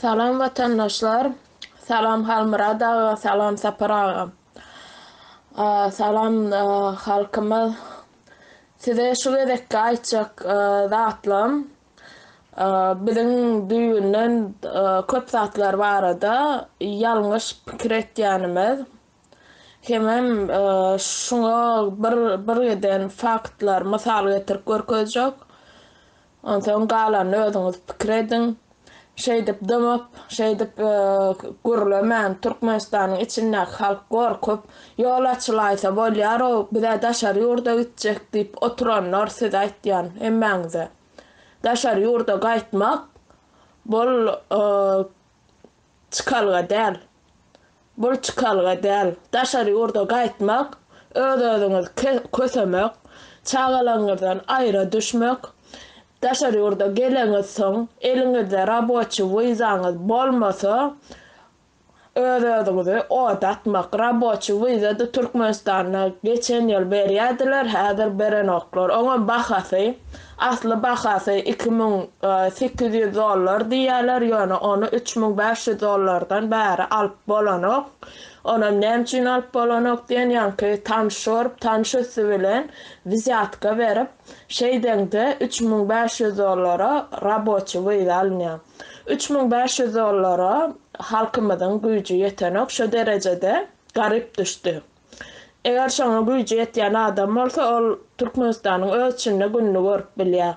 Salam watandaşlar Salam Halmyrat aga Salam Sapar aga Salam halkymyz Size şu gezekki aýtjak zatlym biziň düýbünden köp zatlar barada ýalňyş pikir etýänimiz hemem şuňa bir birgiden faktlar mysal getirip görkezjek Onsoň galanyny özüňiz pikir ediň. Şeýdip dymyp, şeýdip gürlemän, Türkmenistanyň içindäki halk gorkup, ýol açylaýsa bolýar-ow, biz-ä daşary ýurda gitjek diýip oturanlar size aýtýan hemmäňize. Daşary ýurda gaýtmak, bul Çykalga däl. Bul çykalga däl. Daşary ýurda gaýtmak, öz-özüňizi kösemek, çagalaryňyzdan aýra düşmek, daşary ýurda geleňizsoň, eliňizde raboçi wizaňyz bolmasa, öz-özüňizi oda atmak. Raboçi wiza-da Türkmenistanda geçen ýyl berýärdiler, häzir berenoklar. Oňam bahasy Asly bahasy iki müň sekiz ýüz dollar diýýärler, ýöne ony üç müň bäş ýüz dollardan bäri alyp bolanok. Onam näme üçin alyp bolanok diýen ýaňky tanyş görüp, tanyş üsti bilen wzýatka berip, şeýdeňde üç müň bäş ýüz dollara raboçi wiza alynýar. Üç müň bäş ýüz dollara halkymyzyň güýji ýetenok, şo derejede garyp düşdi. Eger şoňa güýji ýetýän adam bolsa, ol Türkmenistanyň öz içinde gününi görüp bilýär.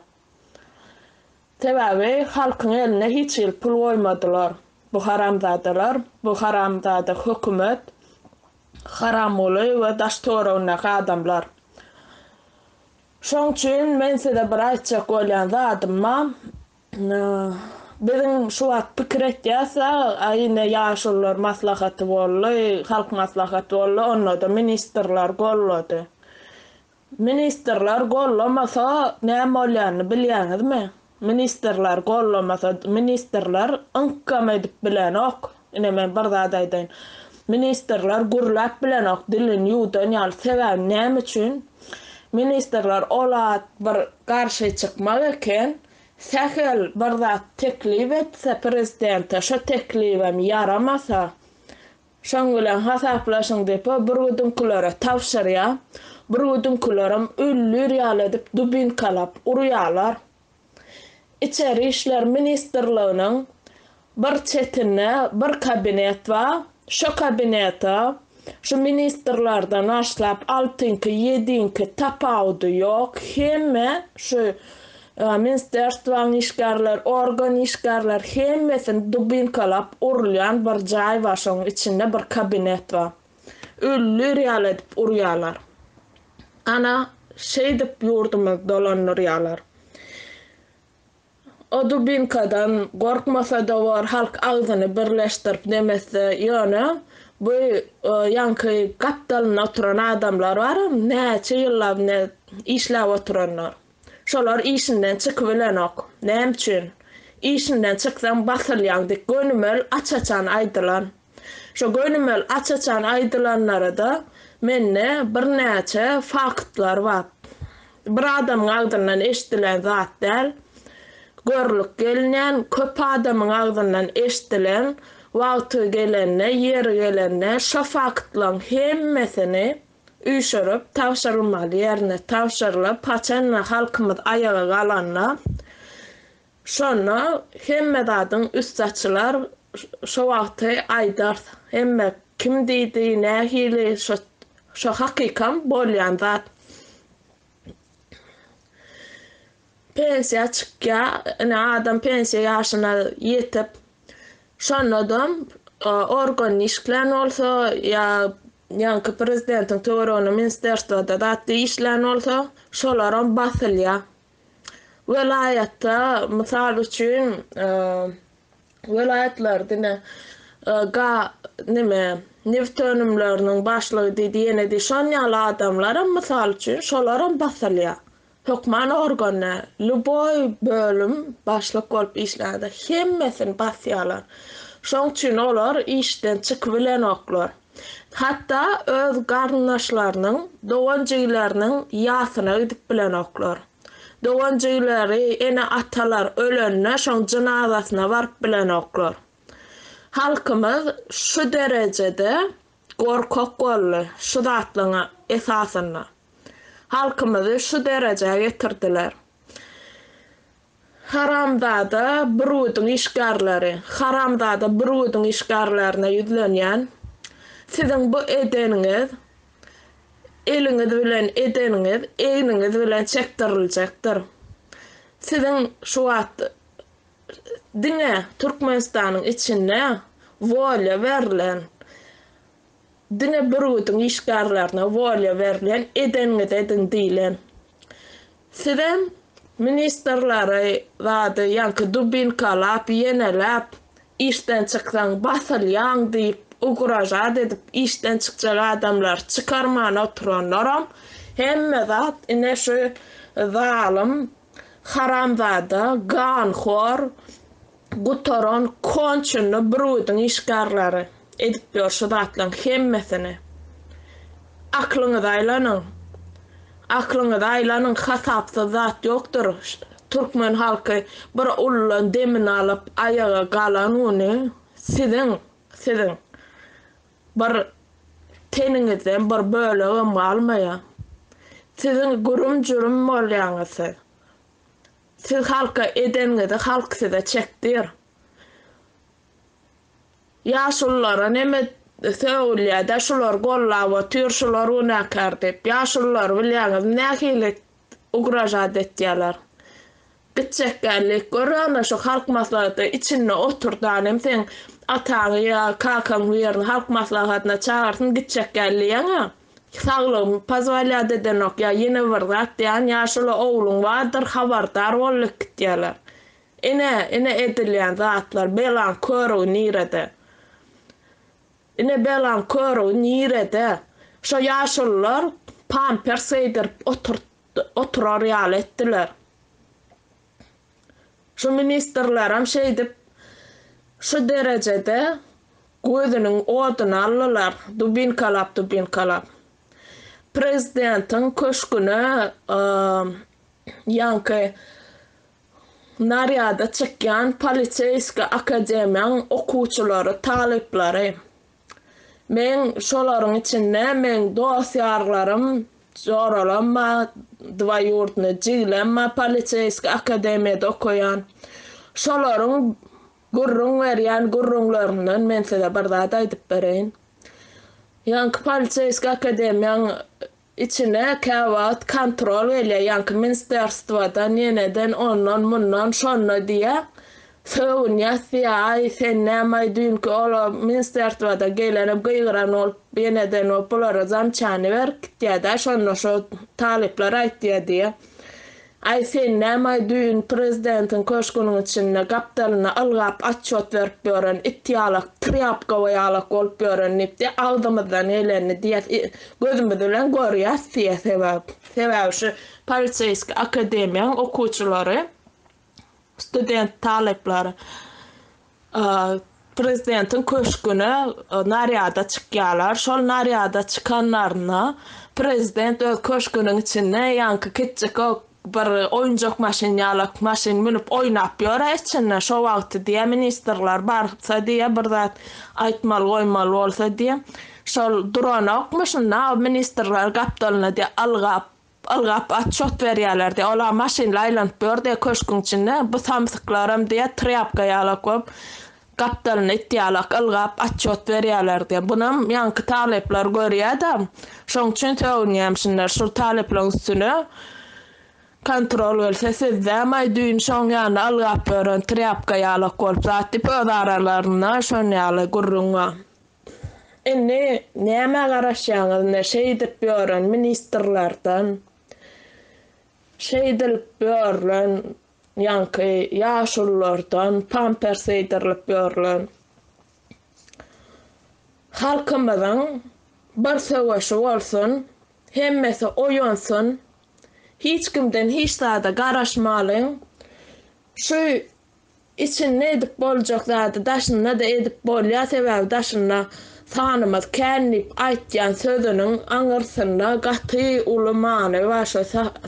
Sebäbi halkyň eline hiç hili pul goýmadylar bu haramzadalar, bu haramzada hökümet, Haramguly we daş töweregindäki adamlar. Şoň üçin men size bir aýtjak bolýan zadym bar, Biziň şu wagt pikir etýäs-ä, aý ine ýaşulular maslahaty boldy, halk maslahaty boldy, onda-da ministrler gollady. Ministrler gollamasa näme bolýanyny bilýäňizmi? Ministrler gollamasa, ministrler yňkam edip bilenok, Ine men bir zat aýdaýyn. Ministrler gürläp bilenok, dilini ýuwdan ýaly. Sebäbi näme üçin? Ministrler ol at bir garşy çykmak eken, sähel bir zat teklip etse prezidente, şo teklibem ýaramasa, şoň bilen hasaplaşyň diýip o bürgüdiňkilere tabşyrýar. Bürgüdiňkilerem öldür ýaly edip dubinkalap urýarlar. Içeri işler ministrliginiň bir çetinde bir kabinet bar. Şo kabinete şu ministrlerden başlap altyňky, ýediňki tapawudy ýok, hemme şu minsterstwaň işgärleri, organ işgärleri hemmesini dubinkalap urulýan bir jaý bar, şoň içinde bir kabinet bar. Ölüler ýaly edip urýarlar. Ana, şeýdip ýurdumyzy dolandyrýarlar. O dubinkadan gorkmasa-da bor, halk agzyny birleşdirip nemesde, ýöne bu ýaňky gapdalynda oturan adamlar baram, näçe ýyllap ine işläp oturanlar. Şolar işinden çykybilenok. Näme üçin? Işinden çyksaň basylýaň dik gönümel aç-açan aýdylan. Şo gönümel aç-açan aýdylanlarada mende birnäçe faktlar bar. Bir adamyň agzyndan eşdilen zat däl. Görlük gelinýän, köp adamyň agzyndan eşdilen, wagty gelende, ýeri gelende şo faktlaň hemmesini, üýşürip tabşyrylmaly ýerine tabşyrylyp, haçanda halkymyz aýaga galanda, şonda hemme zadyň üsti açylar, şo wagty aýdars, hemme kim diýdi, nähili, şo hakykam bolýan zat. pensiýa çykýar. Ine adam pensiýa ýaşyna ýetip, şonda-da organ işlän bolsa ýa ýaňky prezidentiň töwereginde ministrstwoda zat işlän bolsa, şolaram basylýar. Welaýatda, mysal üçin, Welaýatlar diňe ga neme neft önümleriniň başlygy diýdi ýene diý şon ýaly adamlaram mysal üçin şolaram basylýa hökman organda lýuboý bölüm başlyk bolup işlände hemmesini basýalar şoň üçin olar işden çykybilenoklar hatda öz garyndaşlarynyň dogan jigileriniň ýasyna gidip bilenoklar. Dogan-jigleri, ene-atalar ölende şoň jynazasyna baryp bilenoklar. Halkymyz şu derejede gorkak boldy şu zatlaryň esasynda. Halkymyzy şu derejä getirdiler. Haramzada Brüýudyň işgärleri, haramzada Brüýudyň işgärlerine ýüzlenýän, siziň bu edeniňiz, eliňiz bilen edeniňiz egniňiz bilen çekdiriljekdir. Siziň şu wagt diňe Türkmenistanyň içinde wolýa berlen, diňe bürgüdiň işgärlerine wolýa berlen, edeniňizi ediň diýlen. Sizem ministrleri zady ýaňky dubinkalap, ýeneläp, işden çyksaň basylýaň diýip ugražat edip işden çykjak adamlary çykarman oturanlaram hemme zat ine şu zalym haramzada ganhor Gutaran konçenli brudin işgärleri edip ýör şu zatlaň hemmesini. Aklyňyza aýlanyň. Aklyňyza aýlanyň hasapsyz zat ýokdyr türkmen halky bir ululan demini alyp aýaga galan güni siziň siziň bir teniňizden bir bölegem galmaýa. Siziň gürüm jürüm bolýaňyz siz. Siz halka edeniňizi halk size çekdir. Ýaşululara neme sögülýädä şular gollap otyr şular günäkär diýip ýaşululary bilýäňizmi nähili ugražat etýäler. Gitjek geldik gör ana şu halk maslahaty içinde oturdan hem seň ataňy ýa kakaň birini halk maslahatyna çagyrsyn gitjek geldi ýaňa. Saglygym pozwalýat edenok ýa ýene bir zat diýýän ýaşuly ogluň bardyr habardar bol lekit diýýärler. Ine, ine edilýän zatlar belaň körügi nirede? Ine belaň körügi nirede? Şo ýaşulylar pampers geýdirip oturar ýaly etdiler. Şu ministrlaram şeýdip şu derejede gözüniň oduny aldylar dubinkalap dubinkalap prezidentiň köşgüne ýaňky narýada çykýan poliseýski akademiýaň okuwçylary talyplary. Meň şolaryň içinde meň dost-ýarlarym Joralamma, dwaýurdnyý jigilemma poliseýskiý akademiýada okaýan. Şolaryň gürrüň berýän gürrüňlerinden men size bir zat aýdyp bereýin. Ýaňky poliseýskiý akademiýaň Içine käwagt kontrol gelýär, ýaňky minsterstwadan, ýeneden ondan, mundan, şonda diýýär. Sögünýäs diýýär, aý, sen nämaý, düýnki ol o minsterstwadan gelenem gygyran bolup, ýeneden bolup, bulara zamçany berip gitýär-dä, şonda şo talyplar aýtýar diýýär. Aý sen nämaý düýn prezidentiň köşgüniň içinde gapdalynda ylgap atçot berip ýören it ýalak trýapkawa ýalak bolup ýören diýip diýe agzymyzdan gelenini diýýäs i gözümiz bilen görýäs diýýä sebäp sebäbi şu poliseýski akademiýaň okuwçylary Student talyplar Prezidentiň köşgüne narýada çykýarlar. Şol narýada çykanlarynda Prezident öz köşgüniň içinde ýaňky kiçjik bir oýunjak maşyn ýalak maşyn münüp oýnap ýör-ä içinde. Şo wagty diýýär, ministrler barsa diýýär, bir zat aýtmaly goýmaly bolsa diýýär, şol duranokmy, şunda ministrler gapdalyna diýýär, algap Ylgap atçot berýärlerdi. Olar maşynly aýlanyp ýördi köşgüň içinde. Bu samsyklaram diýýär, trýapka ýalak bolup, gapdalynda it ýalak ylgap atçot berýärlerdi. Bunam ýaňky talyplar görýär-de, şoň üçin sögünýämişinler. Şul talyplaryň üstüne kontrol gelse, sizdäm-aý düýn şoň ýaly ylgap ýören trýapka ýalak bolup zat diýip, öz aralarynda şon ýaly gürrüň bar. Indi nämä garaşýaňyz ne şeýdip ýören ministrlerden şeýdilip ýörlen ýaňky ýaşulylardan pampers geýdirilip ýörlen halkymyzyň bir söweşi bolsun hemmesi oýansyn hiç kimden hiç zada garaşmalyň şu Içinde edip boljak zady daşynda-da edip bolýar sebäbi daşynda sanymyz kän diýip aýtýan sözüniň aňyrsynda gaty uly many bar şo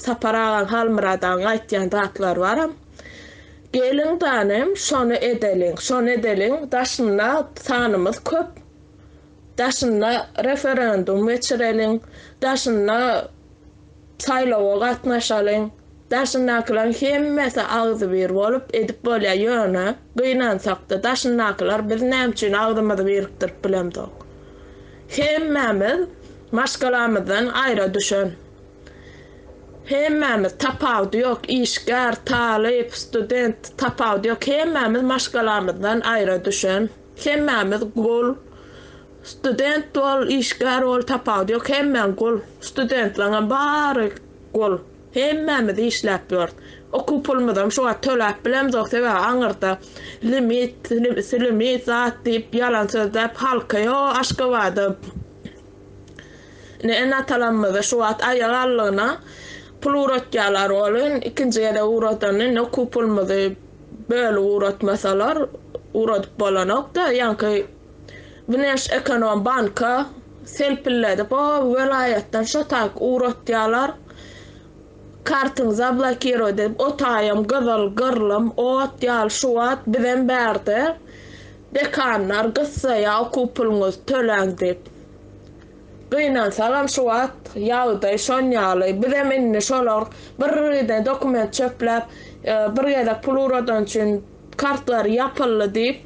Sapar agaň Halmyrat agaň aýtýan zatlary baram geliň tanym şony edeliň şony edeliň daşynda sanymyz köp daşynda referendum geçireliň daşynda Saýlawa gatnaşalyň. Daşyndakylaryň hemmesi agzybir bolup edip bolýar ýöne gynansakda daşyndakylar biz näme üçin agzymyzy birikdirip bilemzok. Hemmämiz maşgalamyzdan aýra düşen. Hemmämiz tapawudy ýok işgär, talyp, student tapawudy ýok hemmämiz maşgalamyzdan aýra düşen. Hemmämiz gul. Student bol işgär bol tapawudy ýok hemmäň gul studentlaňam bary gul hemmämiz işläp ýörüs okuw pulumyzam şu wagt töläp bilemzok sebäbi aňyrda limit silimit zat diýip ýalan sözläp halka ýo aşgabada ine ene atalamyzy şu wagt aýak allygyna pul ugratýalar ol in ikinji gezek ugradanda indi okuw pulumyzy bölüp ugratmasalar ugradyp bolanokda ýaňky Güneş ekonom banka selpilledip o welaýatdan şo tak ugratýalar kartyňy zablokirowat edip o taýam gyzyl gyrlym ot ýaly şu wagt bizem bärde dekanlar gyssaýa okuw puluňyzy töläň diýip gynansagam şu wagt ýagdaý şon ýaly bizem indi şolar birden dokument çöpläp bir gezek pul ugradan üçin Kartlary ýapyldy diýip,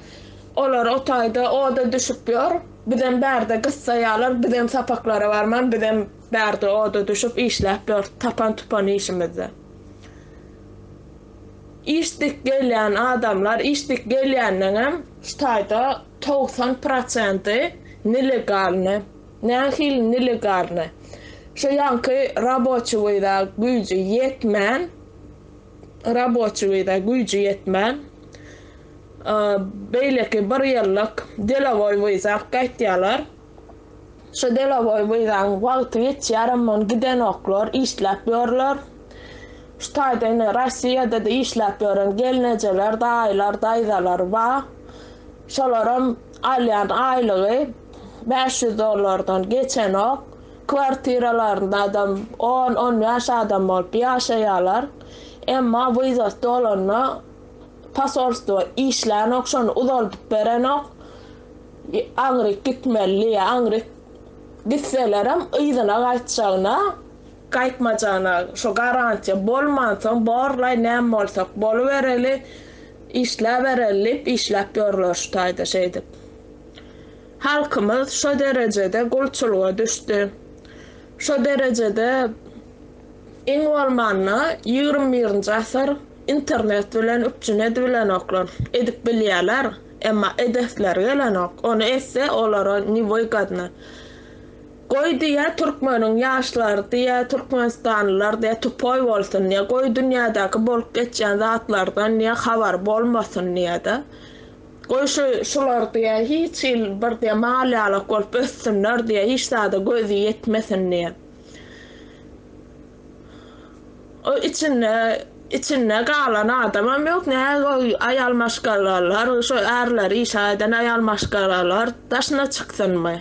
olar o taýda oda düşüp ýör. Bizem bärde gyssaýarlar, bizem sapaklara barman, bizem bärde oda düşüp işläp ýörüs, tapan-tupan işimizde. Işdik gelýän adamlar, işdik gelýändeňem şu taýda togsan prosenti nelegalny, nähili nelegalny, şu ýaňky raboçi wiza güýji ýetmän, raboçi gyza güýji ýetmän, beýleki bir ýyllyk delowoý wyzak gaýtýarlar. Şu delowoý wyzaň wagty geçýärem ony gidenoklar, işläp ýörler. Şu taýda ine Rossiýada-da işläp ýören gelnejeler, daýylar, daýzalar bar. Şolaram alýan aýlygy bäş ýüz dollardan geçenok. Kwartiralarynda-da on-on bäş adam bolup ýaşaýarlar. Emma wizasy dolanda posolstwo işlänok, şony uzaldyp berenok. Aňryk gitmeli diýýär. Aňryk gitselerem yzyna gaýtjagyna. Gaýtmajagyna şo garantiýa bolmansoň borlaý näme bolsak bolubereli, işläbereli diýip işläp ýörler şu taýda şeýdip. Halkymyz şo derejede gulçulyga düşdi. Şo derejede iň bolmanda ýigrimi birinji asyr internet bilen üpjün edibilenoklar. Edip bilýärler, emma edesleri gelenok. Ony etse olara niwygodny. Goý diýýä türkmeniň ýaşlary diýýä türkmenistanlylar diýýä tupoý bolsun diýýä goý dünýädäki bolup geçýän zatlardan diýýä habary bolmasyn diýýä-de. Goý şu şular diýä hiç hil bir diýä mal ýalak bolup össünler diýä hiç zada gözi ýetmesin diýä. O içinde içinde galan adamam ýok nä goý aýal maşgalalar şu ärleri işe gaýdan aýal maşgalalar daşyna çyksynmy.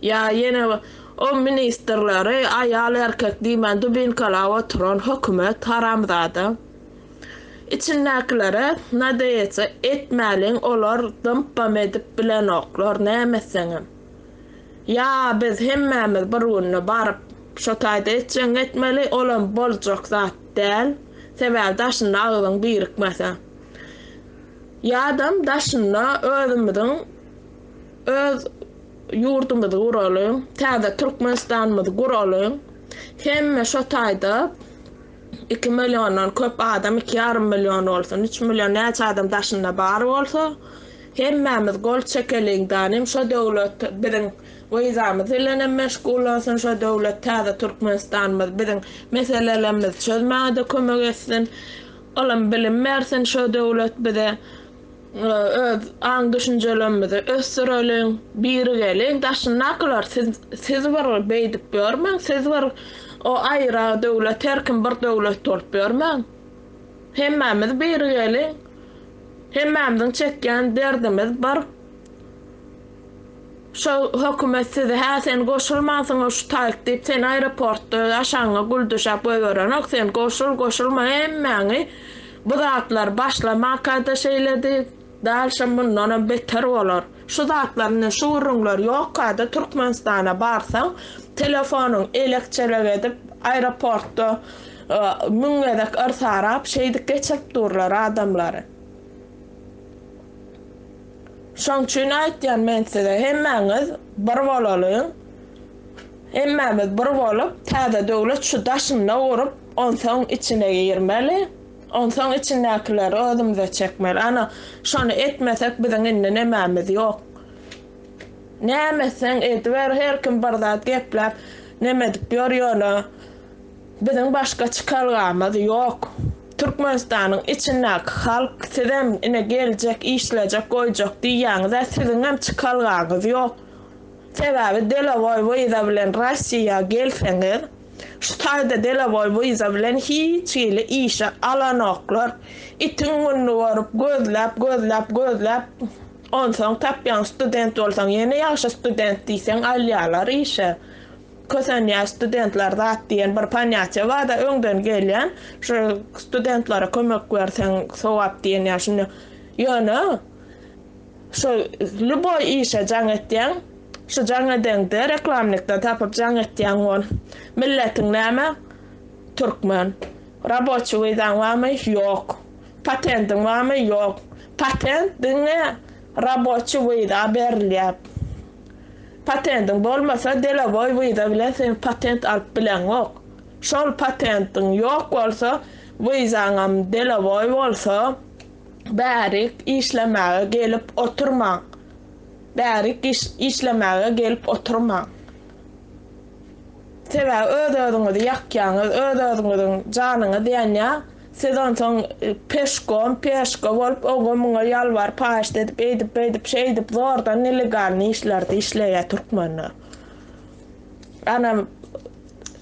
Ýa ýene o ministrleri aýal erkek diýmän dubinkalap oturan hökümet haramzada. Içindäkilere nadeýetse etmäliň olar dympam edip bilenoklar nämetseňem. Ýa biz hemmämiz bir günde baryp şo taýda etjeň etmeli olam boljak zat däl sebäbi daşynda agzyň birikmese. Ýadam daşynda özümiziň öz ýurdumyzy guralyň täze Türkmenistanymyzy guralyň hemme şo taýda Iki milliondan köp adam, iki ýarym million bolsun, üç million näçe adam daşynda bar bolsa, hemmämiz gol çekeliň da, nem şo döwlet biziň wizamyz bilenem meşgullansyn, şo döwlet täze Türkmenistanymyz biziň meselelerimizi çözmäge-de kömek etsin. Olam bilim bersin şo döwlet bize. Öz aň-düşünjelerimizi ösdüreliň, birigeliň. Daşyndakylar siz siz bir beýdip ýörmäň, siz bir o aýra döwlet, her kim bir döwlet bolup ýörmäň. Hemmämiz birigeliň. Hemmämiziň çekýän derdimiz bir. Şo hökümet sizi hä sen goşulmansyňa şu taýyk diýip seni aeroportda öz aşagyňa gül düşäp goýberenok sen goşul goşulma hemmäňi bu zatlar başlamakada şeýledi dalşam mundanam beter bolar şu zatlar indi şu gürrüňler ýokada türkmenistana barsaň telefonyň elek çelek edip aeroportda müň gezek yrsarap şeýdip geçirip durlar adamlary. Şoň üçin aýtýan men size hemmäňiz bir bolalyň. Hemmämiz bir bolup täze döwlet şu daşynda gurup onsoň içine girmeli. Onsoň içindäkileri özümize çekmeli. Ana şony etmesek biziň indi nemämiz ýok. Näme etseň ediber her kim bir zat gepläp nemedip ýör ýöne Biziň başga çykalgamyz ýok. Türkmenistanyň içindäki halk sizem ine geljek işlejek goýjak diýýäňizä siziňem çykalgaňyz ýok. Sebäbi delowoý wiza bilen Rossiýa gelseňiz şu taýda delowoý wiza bilen hiç hili işe alanoklar. Itiň gününi görüp gözläp gözläp gözläp onsoň tapýaň student bolsaň ýene ýagşy student diýseň alýalar işe. Kösenýär studentler zat diýen bir panýatýa barda öňden gelýän şu studentlere kömek berseň sogap diýen ýa şunda ýöne şu lýuboý işe jaň etýäň şu jaň edeňde reklamnikden tapyp jaň etýäň bol milletiň näme türkmen raboçi wizaň barmy ýok patendiň barmy ýok patent diňe raboçi wiza berilýär. Patendiň bolmasa deloboý wiza bilen sen patent alyp bileňok. Şol patentiň ýok bolsa wizaňam deloboý bolsa bärik işlemäge gelip oturmaň. Bärik işlemäge gelip oturmaň. Sebäbi öz-özüňizi ýakýaňyz, öz-özüňiziň janyňyz ýanýar. Siz onsoň peşkom, peşka bolup, oňa-muňa ýalbaryp, paýyşt edip, eýdip-beýdip, şeýdip zordan nelegalnyý işlerde işleýär türkmenler. Anam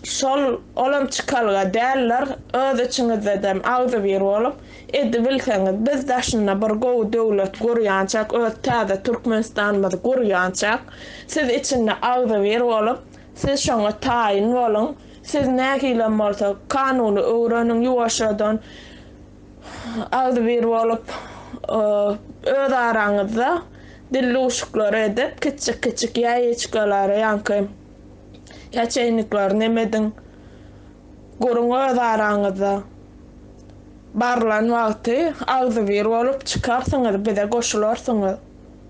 şol, olam çykalga däldir, öz içiňizdedem agzybir bolup, Edibilseňiz, biz daşynda bir gowy döwlet gurýançak, öz täze Türkmenistanymyzy gurýançak, siz içinde agzybir bolup, siz şoňa taýyn boluň, siz nähilem bolsa kanuny öwreniň ýuwaşjadan, agzybir bolup, öz araňyzda dildüwşüklere edip, kiçjik-kiçjik ýaýeçkalary ýaňky ýaçeýnikleri nemediň, guruň öz araňyzda. Barlan wagty agzybir bolup çykarsyňyz bize goşularsyňyz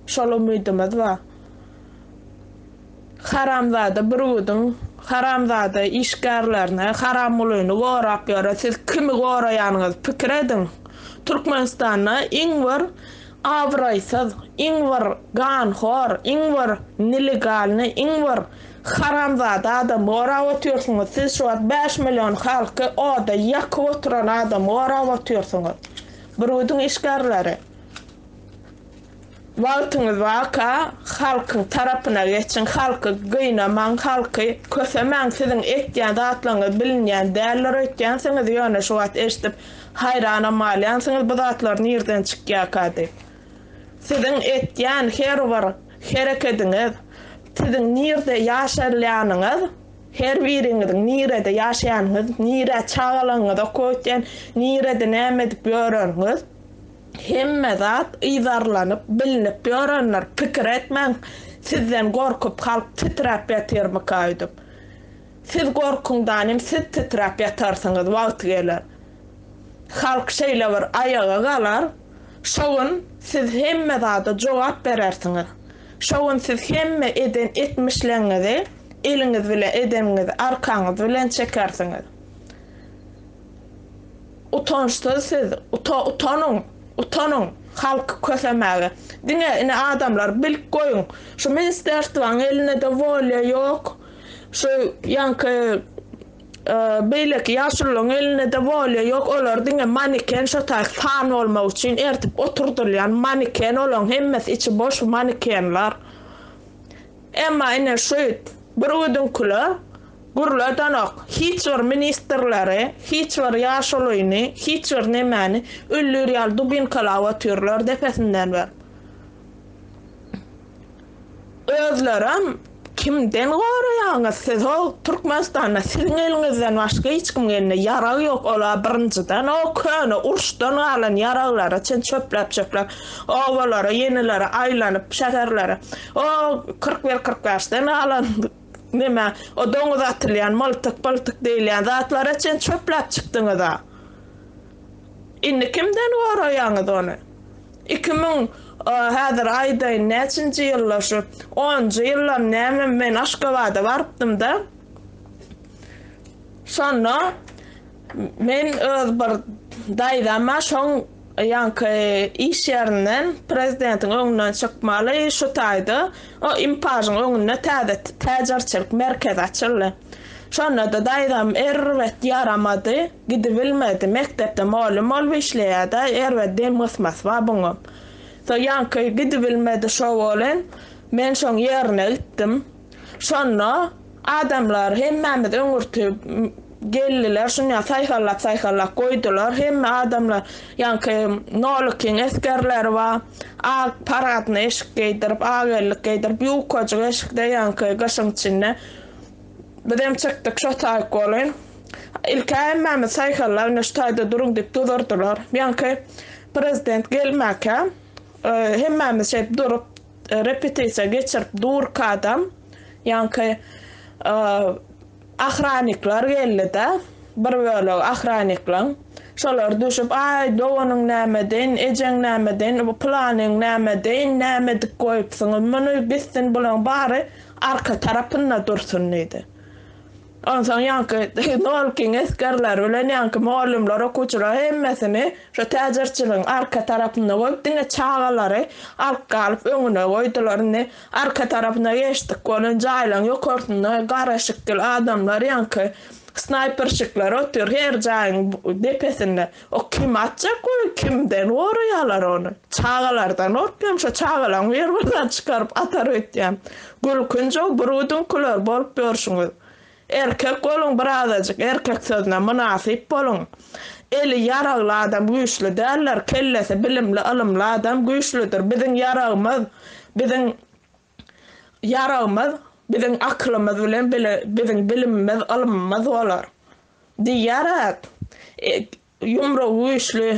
şol umydymyz bar. Haramzada Burgudyň haramzada işgärlerini Haramgulyny gorap ýöre siz kimi goraýanyňyz pikir ediň Türkmenistanda iň bir abraýsyz iň bir ganhor iň bir nelegalny iň bir Haramzada adamy gorap otyrsyňyz siz şu wagt bäş million halky oda ýakyp oturan adamy gorap otyrsyňyz brudun işgärleri wagtyňyz barka halkyň tarapyna geçiň halky gynamaň halky kösemäň siziň etýän zatlaryňyz bilinýän däldir öýtýänsiňiz ýöne şu wagt eşdip haýranam galýansyňyz bu zatlar nirden çykýaka diýip. Siziň etýän her bir herekediňiz, siziň nirde ýaşalýanyňyz, her biriňiziň nirede ýaşaýanyňyz, nirä çagalaryňyzy okatýan, nirede näme edip ýöreniňiz, hemme zat yzarlanyp, bilnip ýörendir. Pikir etmäň, sizden gorkup halk titräp ýatyrmyka öýdüp. Siz gorkuňdanem siz titräp ýatarsyňyz wagty geler. Halk şeýle bir aýaga galar. Şo gün siz hemme zada jogap berersiňiz. Şo gün siz hemme eden etmişleňňizi eliňiz bilen edeniňizi arkaňyz bilen çekersiňiz. Utançsyz siz uta utanyň utanyň halky kösemäge. Diňe ine adamlar bilip goýuň şu ministerstwaň elinde de wolýa ýok şu ýaňky Beýleki ýaşulularyň elinde-de bolýa, ýok olar diňe maneken şo taýy fan bolmak üçin ertip oturdylýan maneken olaň hemmesi içi boş manekenler. Emma ine şüýt bir ödüňkile gürledenok hiç bir ministrleri, hiç bir ýaşulyny, hiç bir nemäni öldürýär ýaly dubinkalap otyrlar depesinden berip. Özlerem kimden goraýaňyz sizow Türkmenistanda siziň eliňizden başga hiç kimiň elinde ýarag ýok ola birinjiden o köne uruşdan galan ýaraglara çen çöpläp çöpläp obalara ýenilere aýlanyp şäherlere o kyrk bir kyrk bäşden galan nime o doňuz atylýan myltyk pyltyk diýilýän zatlara çen çöpläp çykdyňyza indi kimden goraýaňyz ony. Iki müň häzir aýdaýyn näçinji ýyllar şu onunjy ýyllar näme men Aşgabada barypdymda şonda men öz bir daýzama şoň ýaňky iş ýerinden prezidentiň öňünden çykmaly şu taýda o impajyň öňünde täze täjirçilik merkezi açyldy Şonda-da daýzam erbet ýaramady, gidibilmedi. Mekdepde molly bolup işleýärdi-ä, erbet dem gysmasy-ba buňam. So ýaňky gidibilmedi şo welin, men şoň ýerine gitdim. Şonda adamlar hemmämiz öňürti geldiler, şunýa saýhallap-saýhallap goýdular. Hemme adamlar ýaňky Nolykyň esgerleri ba, ak parahatny eşik geýdirip, ak ellik geýdirip, ýukajyk eşikde ýaňky gyşyň içinde. Bizem çykdyk, şo taýyk bolun. Ilki hemmämiz saýhallap, ine şu taýda duruň diýip duzurdylar. Ýaňky prezident gelmäkä, hemmämiz şeýdip durup, repetisiýa geçirip durkadam, ýaňky ahrannikler geldi-de, bir bölegi ahranniklaň. Şolar düşüp, Aý, doganyň näme deýin, ejeň näme deýin, bu pylanyň näme deýin, näme edip goýupsyňyz muny, gitsin bulaň bary, Arka tarapynda dursun diýdi. Onsoň ýaňky Nolkiň esgerleri bilen ýaňky mugallymlar okuwçylar hemmesini şo täjirçiligiň arka tarapynda goýup diňe çagalary alyp galyp öňüne goýdular. Indi arka tarapyna geçdik bolan jaýlaryň ýokarsynda gara şikil adamlar ýaňky snaýperşikler otyr her jaýyň depesinde. O kim atjak ony, kimden goraýalar ony. Çagalardan gorkýan, şo çagalaň bir birini çykaryp atar öýtýän. Gülkünjow birudinkiler bolup ýörşüňiz. Erkek boluň bir azajyk, erkek sözüne mynasyp boluň. Eli ýaragly adam güýçli däldir, kellesi bilimli ylymly adam güýçlüdir. Biziň ýaragymyz, biziň. Ýaragymyz biziň akylymyz bilen bile biziň bilimimiz, ylymymyz bolar. Diýýärek, ýumrugy güýçli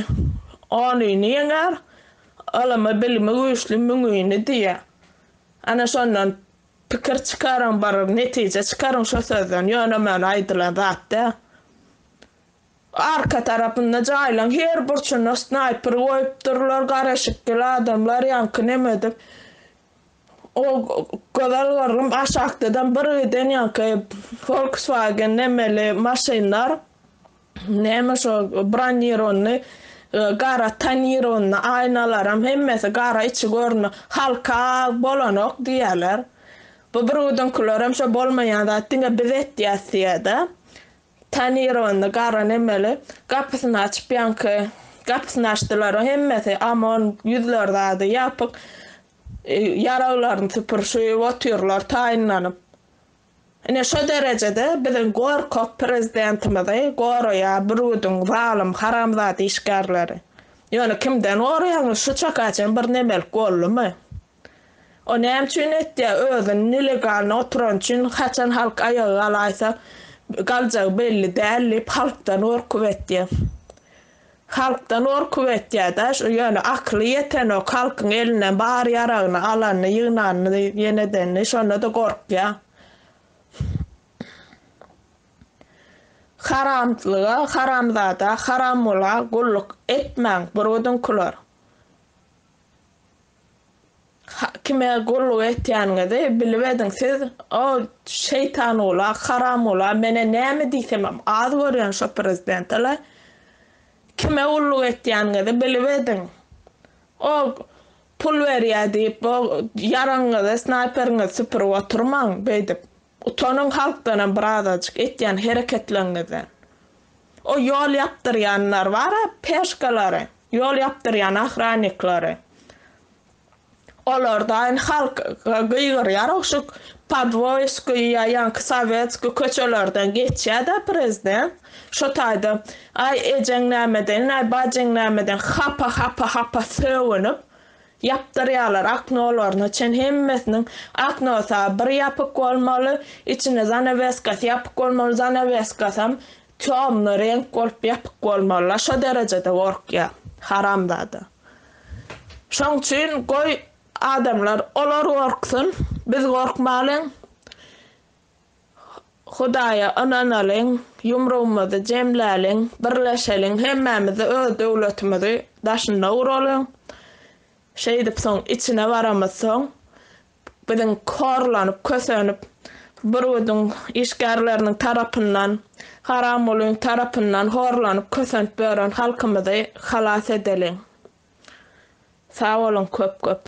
onyny ýeňer, ylymy, bilimi güýçli müňini diýýä. Ana şondan pikir çykaryň, bir netije çykaryň şo sözden, ýöne-möne aýdylan zat däl. Arka tarapynda jaýlaň her burçuna snaýper goýupdyrlar, gara şikeli adamlar ýaňky nemedir o gözel gyzym aşakdadan bir giden ýaňky Volkswagen nemeli maşynlar name şo bronironyny gara tonironyny aýnalaram hemmesi gara içi görünme halka bolanok diýýäler bu bir güdinkilerem şo bolmaýan zat diňe biz etýäs diýäda Tanir onda, gara nemeli, gapysyny açyp ýaňky gapysyny açdylar-a hemmesi, Amon ýüzleri zady ýapyk, ýaraglaryny süpürşip otyrlar taýynlanyp. Ine şo derejede biziň gorkak prezidentimizi goraýar bürgüdiň zalym haramzada işgärleri. Ýöne kimden goraýaňyz şu çaka çen bir nemelik boldumy? O näme üçin etýä özüni nelegalny oturan üçin haçan halk aýaga galaýsa galjagy belli däl diýip halkdan gorkup etýä. Halkdan gorkup etýäda şu ýöne akyly ýetenok halkyň elinden bar ýaragyny alanyny ýygnanyny ýen edenini şonada gorkýa. Haramlyga haramzada haramgula gulluk etmäň burgudyňkylar. Kime gulluk etýäniňizi bilip ediň siz o şeýtanula haramula mene näme diýsemem az görýän şo prezidentele kime gulluk etýäniňizi bilip ediň o pul berýä diýip o ýaragyňyzy snaýperiňizi süpürip oturmaň beýdip Utanyň halkdanam birazajyk etýän hereketleňňizden. O ýol ýapdyrýanlar bara peşkalary, ýol ýapdyrýan ahranniklary. Olardaýyn halk gygyrýar ogşuk Podvoýskiý ýa ýaňky Sowetskiý köçelerden geçýädä prezident. Şo taýda aý ejeň nämeden, aý bajyň nämeden hapa hapa hapa sögünip Ýapdyrýarlar okno olaryna çen hemmesiniň oknosy bir ýapyk bolmaly içini zanaweskasy ýapyk bolmaly zanaweskasam tёмный reňk bolup ýapyk bolmaly la şo derejede gorkýa haramzada şoň üçin goý adamlar olar gorksyn biz gorkmalyň Hudaýa ynanalyň, ýumrugymyzy jemläliň, birleşeliň, hemmämiz-de öz döwletimizi daşynda guralyň. Şeýdip, soň içine baramyzsoň, biziň horlanyp, kösenip, Bürgüdiň işgärleriniň tarapyndan, Haramgulyň tarapyndan horlanyp, kösenip ýören halkymyzy halas edeliň. Sag boluň köp-köp.